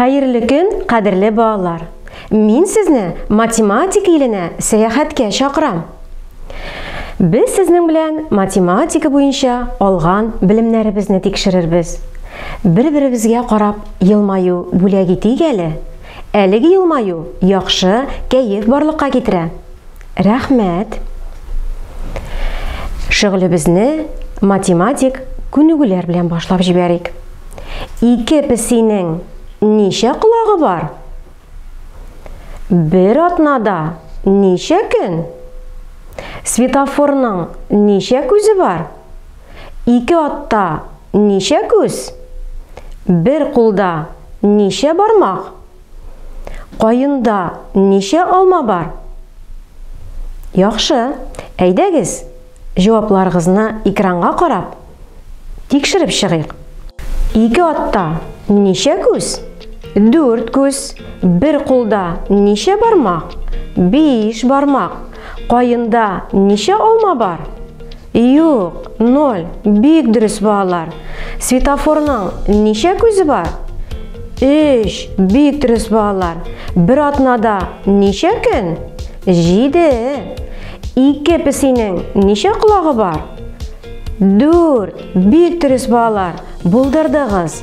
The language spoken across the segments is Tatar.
Хәерле көн, кадерле балалар! Мин сезне математика иленә сәяхәткә чакырам. Без сезнең белән математика буенча алган белемнәребезне тикшерербез. Бер-беребезгә карап елмаю бүләк итик әле. Әлеге елмаю яхшы кәеф барлыкка китерә. Рәхмәт! Шөгылебезне математик күнегүләр белән башлап җибәрик. Ике песинең ничә колагы бар? Бер атнада ничә көн? Светофорның ничә күзе бар? Ике атта ничә күз? Бер кулда ничә бармак? Каенда ничә алма бар? Яхшы, әйдәгез, җавапларыгызны экранга карап, тикшереп чыгыйк. Ике атта ничә күз? Дүрт күз. Бер кулда ничә бармак? Биш бармак. Каенда ничә алма бар? Юк, ноль. Бик дөрес балалар. Светофорның ничә күзе бар? Өч. Бик дөрес балалар. Бер атнада ничә көн? Җиде. Ике песинең ничә колагы бар? Дүрт. Бик дөрес балалар. Булдырдыгыз.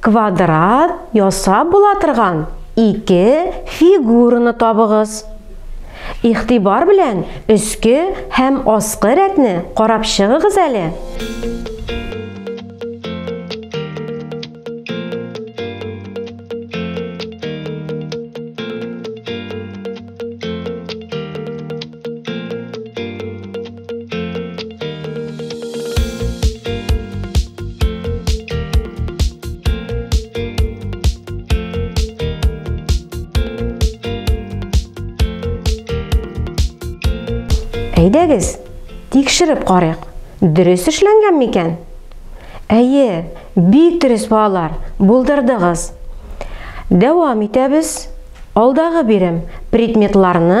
Квадрат ясап була торган ике фигураны табыгыз. Ихтибар белән өске һәм аскы рәтне карап чыгыгыз әле. Әйдәгез, тикшереп карыйк. Дөрес эшләнгән микән? Әйе, бик дөрес балалар, булдырдыгыз. Дәвам итәбез. Алдагы бирем предметларны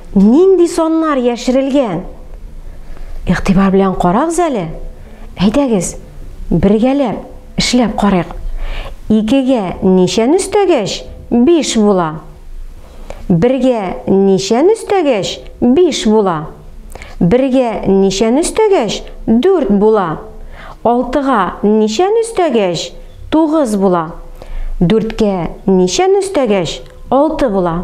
Нинди саннар яшерелгән? Игътибар белән карагыз әле. Әйдәгез, бергәләп эшләп карыйк. Икегә ничәне өстәгәч, биш була? Бергә ничәне өстәгәч, биш була? Бергә ничәне өстәгәч, дүрт була? Алтыга ничәне өстәгәч, тугыз була? Дүрткә ничәне өстәгәч, алты була?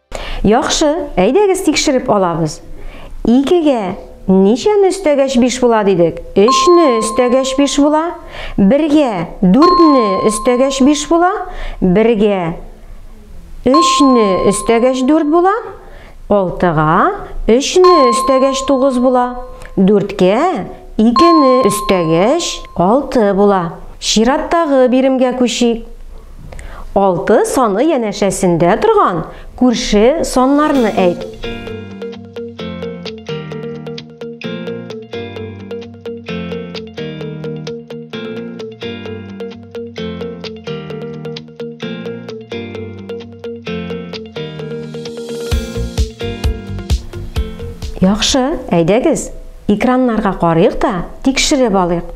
Яхшы, әйдәгез тикшереп алабыз. Икегә ничәне өстәгәч биш була дидек? Өчне өстәгәч биш була. Бергә дүртне өстәгәч биш була. Бергә өчне өстәгәч дүрт була. Алтыга өчне өстәгәч тугыз була. Дүрткә икене өстәгәч алты була. Чираттагы биремгә күчик. Алты саны янәшәсендә торган күрше саннарны әйт. Яхшы, әйдәгез, экраннарга карыйк та, тикшереп алыйк.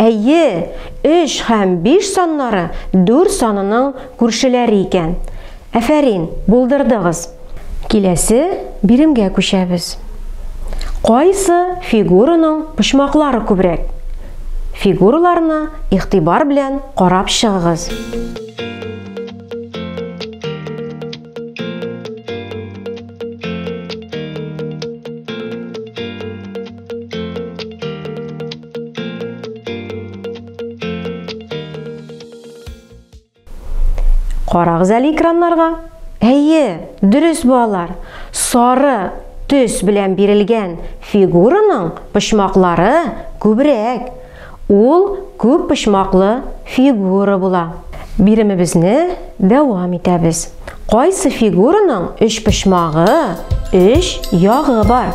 Әйе, өч һәм биш саннары дүр санының күршеләре икән. Әфәрин, булдырдыгыз! Киләсе биремгә күчәбез. Кайсы фигураның почмаклары күбрәк? Фигураларны игътибар белән карап чыгыгыз. Карагыз әле экраннарга. Әйе, дөрес балалар. Сары төс белән бирелгән фигураның почмаклары күбрәк. Ул күп почмаклы фигура була. Биремебезне дәвам итәбез. Кайсы фигураның өч почмагы, өч ягы бар?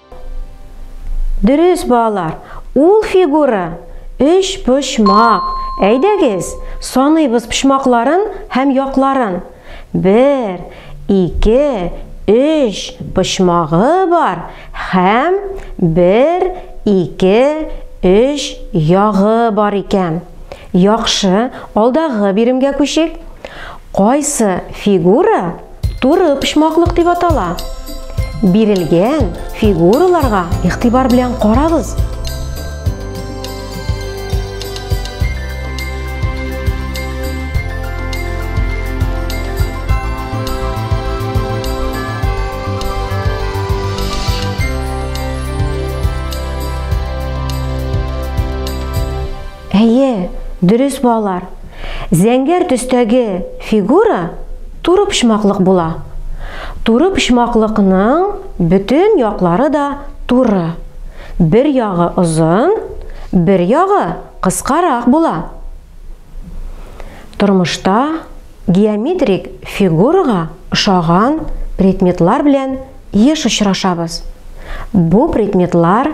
Дөрес, балалар, ул фигура өч почмак. Әйдәгез, саныйбыз почмакларын һәм якларын. Бер, ике, өч почмагы бар һәм бер, ике, өч ягы бар икән. Яхшы, алдагы биремгә күчик. Кайсы фигура Туры почмаклык дип атала. Бирелгән фигураларга игътибар белән карагыз. Әйе, дөрес балалар. Зәңгәр төстәге фигура туры почмаклык була. Туры почмаклыкның бөтен яклары да туры. Бер ягы озын, бер ягы кыскарак була. Тормышта геометрик фигурага ошаган предметлар белән еш очрашабыз. Бу предметлар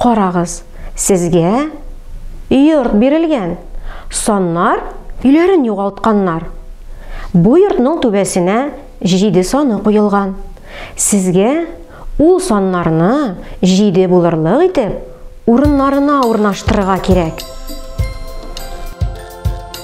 Карагыз, сезгә йорт бирелгән. Саннар өйләрен югалтканнар. Бу йортның түбәсенә җиде саны куелган. Сезгә ул саннарны җиде булырлык итеп урыннарына урнаштырырга кирәк.